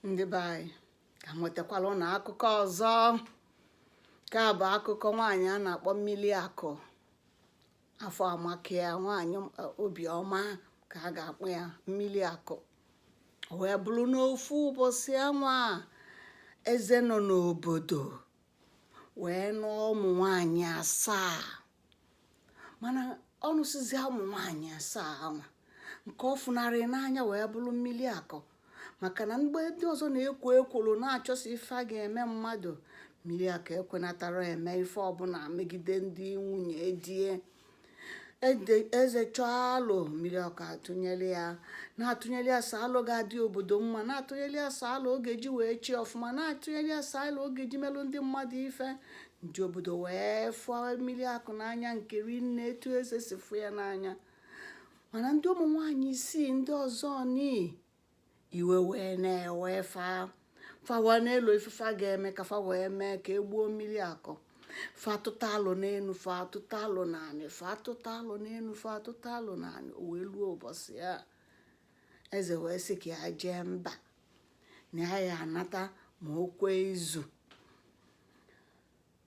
ndị be anyị ka m wetakwala ụnụ akụkọ ọzọ nke a bụ akụkọ nwaanyị a na-akpọ miliakụ afọ amakia nwaanyị obiọma ka a ga-akpọ ya miliakụ wee bụrụ n'ofu ụbọchị anwa eze nọ n'obodo wee nụọ ụmụ nwaanyị asaa mana ọ nụsịzị ụmụ nwaanyị asaa anwa nke ọ fụnarị n'anya wee bụrụ miliakụ maka na mgbe ndị ọzọ na-ekwo ekworo na-achọsi ife a ga-eme mmadụ miliakụ ekwenatarọ eme ife ọbụla megide ndị nwunye die eze chọọ alo miliakụ atụnyere ya na-atụnyere ya sọ alo ga-adị obodo mma na-atụnyere ya sọ alo ọ ga-eji wee chị ọfụma na-atụnyere ya sọ alo ọ ga-eji melụ ndị mmadụ ife ndị obodo wee fụ miliakụ n'anya nke rinne etu eze si fụ ya n'anya mana ndị ụmụ nwaanyị isii ndị ọzọ nii iwe wee na-ewe fa fa wee na-elo ife fa ga-eme ka fa wee mee ka e gbuo miliakụ fa atụta alo n'enu fa atụta alo n'anị fa atụta alo n'enu fa atụta alo n'anị o wee luo ụbọchị a eze wee sị ka ya jee mba na ya ya anata ma o kwee izu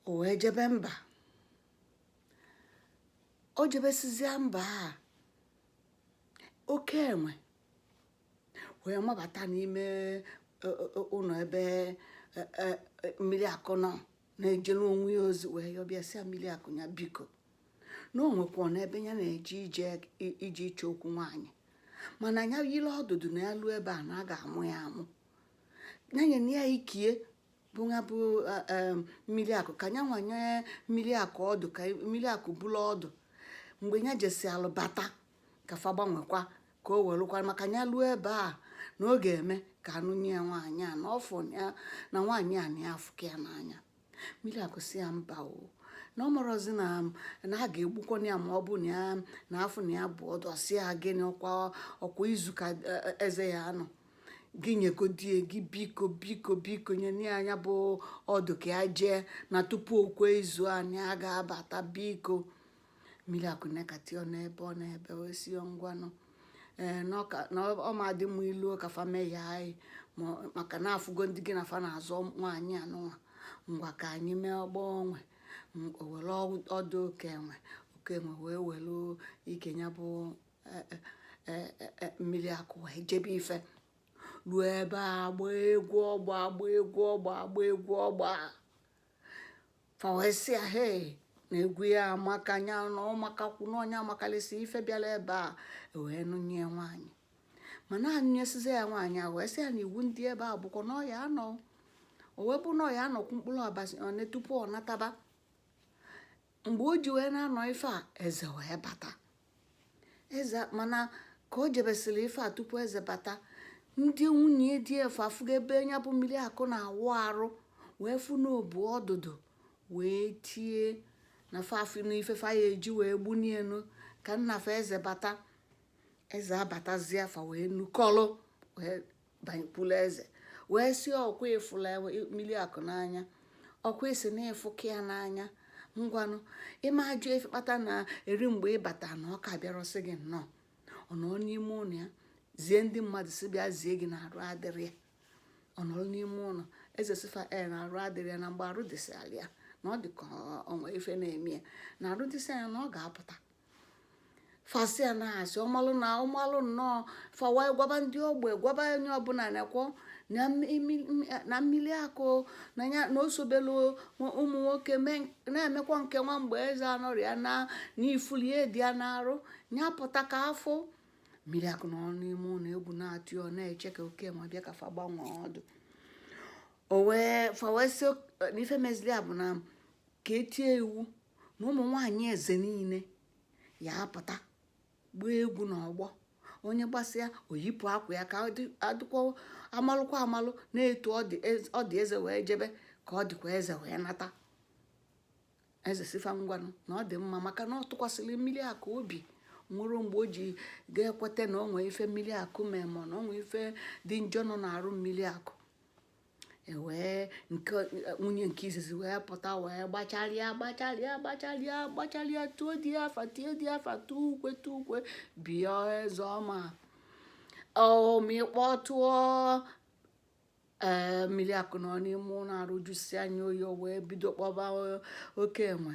o wee jebe mba o jebesizia mba a oke enwe wee mabata n'ime e, e, e, ụnọ ebe miliakụ nọ na-ejere onwe ya ozi wee yọba ya sị miliakụ ya biko na o nwekwanụ ebe ya na-eje ije ịchọ okwu nwaanyị mana ya yiri ọdụdụ na ya luo ebe a na a ga-amụ ya amụ ya nyenụ ya ikie bụ ya bụ e, e, miliakụ ka ya wee nye miliakụ ọdụ ka miliakụ buru ọdụ mgbe ya jesịa lọbata ka fa gbanwekwa ka o welụkwa maka ya luo ebe a na ọ ga-eme ka a nụnye ya nwaanyị a na ọfụ ya na nwaanyị a na ya afụka ya n'anya miliakụ sị ya mba o na ọ marọzi na na a ga-egbukwa ya ma ọ bụ na ya na a fụ na ya bu ọdụ ọ sị ya gịnị ọkwa ọkwa izu ka e, e, eze ya anọ gị nyegodie gị biko biko biko nye nye ya ya bụ ọdụ ka ya jee na tupu okwe izu a na ya ga-abata biko mmiri akụ nekati ọ n'ebe ọ n'ebe wee si ya ngwanụ ee na ọ ka- na ọ ọ ma dị mma ilu ka fa mee ya anyị ma- maka na afụgo ndị gị na fa na-azọ nwaanyị anụnwa ngwa ka anyị mee ọgbọ onwe M- o were ọ- ọdụ oke enwe oke enwe wee were ike ya bụ eh, eh, eh, eh, eh, mmiri akụ wee jebe ife ruo ebe a gbaa egwu ọgba agba egwu ọgba agba egwu ọgba fa wee sị ya he na egwu ya amaka nya na ọ makakwu na nya amakalịsị ife bịara ebe a wee nụnye ya nwaanyị mana a nụnyesizi ya nwaanyị a wee sị ya na iwu ndị ebe a bụkwa na ọ ya-anọ o wee bụ na ọ ya-anọkwu mkpụrụ ụbọsị one tupu ọ nataba mgbe o ji wee na-anọ ife a eze wee bata eze mana ka o jebesịrị ife a tupu eze bata ndị nwunye di afụ afụgo ebe nya bụ miliakụ na-awụ arụ wee fụ na o bu ọdụdụ wee tie na fa afụna ife fa ya-eji wee gbunienu ka nna fa eze bata eze abatazie fa wee nukọlụ wee banyekwula eze wee sị ọkwa ị fụlụ miliakụ n'anya ọkwa ị sị na ị fụka ya n'anya ngwanụ ị ma ajụ ife kpata na eri mgbe ị bata na ọ ka bịarọ sị gị nnọọ ọ nọ n'ime ụlọ ya zie ndị mmadụ sị bịa zie gị na arụ adịrọ ya ọ nọrọ n'ime ụlọ eze sị fa e na arụ adịrọ ya na mgbe arụ dịsịala ya na ọ dị ka o nwe ife na-eme ya na arụ dịsịa nya na ọ ga-apụta fa sị ya na asị ọ malụ na ọ malụ nnọọ fa wee gwaba ndị ogbe gwaba onye ọbụla na-ekwu na mili- m- na miliakụ na ya na o sobelu ụmụ nwoke mee- na-emekwa nke nwa mgbe eze anọrọ ya na na ife ọlịa dị ya n'arụ ya pụta ka a fụ miliakụ nọ n'ime ụlọ egwu na-atụ ya ọ na-eche ka oke enwe bịa ka fa gbanwee ọdụ o wee fa wee sị na ife mezili a bụ na ka e tie iwu na ụmụ nwaanyị eze niile ya-apụta gbaa egwu n'ọgbọ onye gbasịa o yipụ akwa ya ka a dịkwa amalụkwa amalụ na etu ọ dị eze wee jebe ka ọ dịkwa eze wee nata eze sị fa ngwanụ na ọ dị mma maka na ọ tụkwasịrị miliakụ obi o nwerọ mgbe o ji ga-ekweta na o nwee ife miliakụ mee ma na o nwee ife dị njọ nọ n'arụ miliakụ e wee nke nwunye nke izizi wee pụta wee gbacharịa gbacharịa gbacharịa gbacharịa tuo di ya afa tie di ya afa tuo ukwe tuo ukwe bịa eze ọma ọmị kpọtụọ ee miliakụ nọ n'ime ụlọ arụ jụsịa nya oyi o wee bido kpọba oke enwe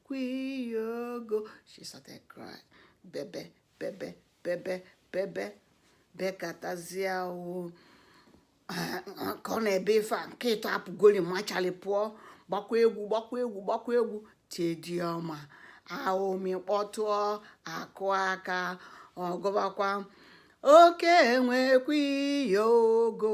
kwiyogo she started crying bebe bebe bebe bebe bekatazie o ka ọ na-ebe ife a nke ịtọ apụgoli machali pụọ gbakwa egwu gbakwa egwu gbakwa egwu tie di ọma a ọmị kpọtụọ akụ aka ọ gụbakwa oke enwe kwiyogo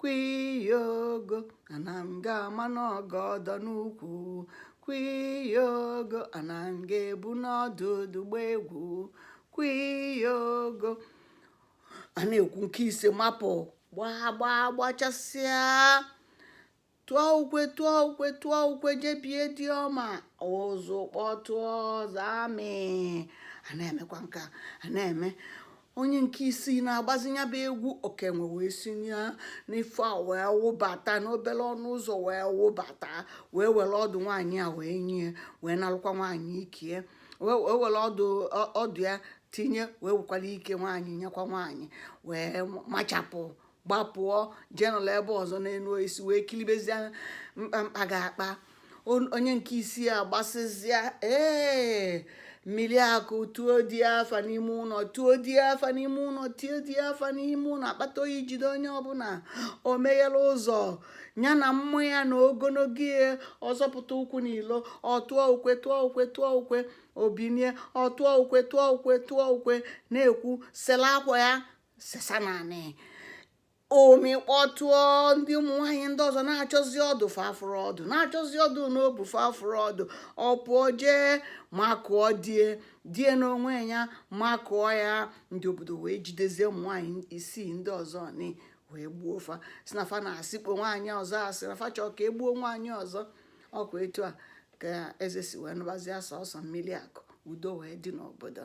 kwiyogo ana m ga-ama n'ọgọdọ n'ukwu kwiyogo ana m ga-ebu n'ọdụdụ gba egwu kwiyogo a na-ekwu nke ise mapụ gbaa gbaa gbachasịa tụọ ukwe tụọ ukwe tụọ ukwe je bie di ọma ụzụ kpọtụọ zamị a na-emekwa nka a na-eme onye nke isii na-agbazi ya bụ egwu okenwe wee si n'ife a wee wụbata n'obere ọnụ ụzọ wee wụbata wee were ọdụ nwaanyị a wee nye wee nalụkwa nwaanyị ikie wee wee were ọdụ ọ- ọdụ ya tinye wee wekwara ike nwaanyị nyekwa nwaanyị wee machapụ gbapụọ jee nọrọ ebe ọzọ n'elu isi wee kilibezie mkpamkpa ga-akpa On- onye nke isi a gbasịzịa ee mmiri akụ tuo di ya afa n'ime ụlọ tuo di ya afa n'ime ụlọ tie di ya afa n'ime ụlọ akpata oyi jide onye ọbụla o meghere ụzọ ya na mmụ ya na ogologo ya ọzọpụta ụkwụ n'ilo ọtụọ ukwe tụọ ukwe tụọ ukwe obinie ọtụọ ukwe tụọ ukwe tụọ ukwe na-ekwu sela akwa ya sesa n'anị omi kpọtụọ ndị ụmụ nwaanyị ndị ọzọ na-achọzi ọdụ fa afụrọ ọdụ na-achọzi ọdụ n'obu fa afụrọ ọdụ ọ pụọ jee makụọ die die n'onwe ya makụọ ya ndị obodo wee jidezie ụmụ nwaanyị isii ndị ọzọ ni wee gbuo fa sị na fa na-asịkpo nwaanyị ọzọ asị na fa chọọ ka e gbuo nwaanyị ọzọ ọ kwa etu a ka eze si wee nụbazie sọsọ mmiri akụ udo wee dị n'obodo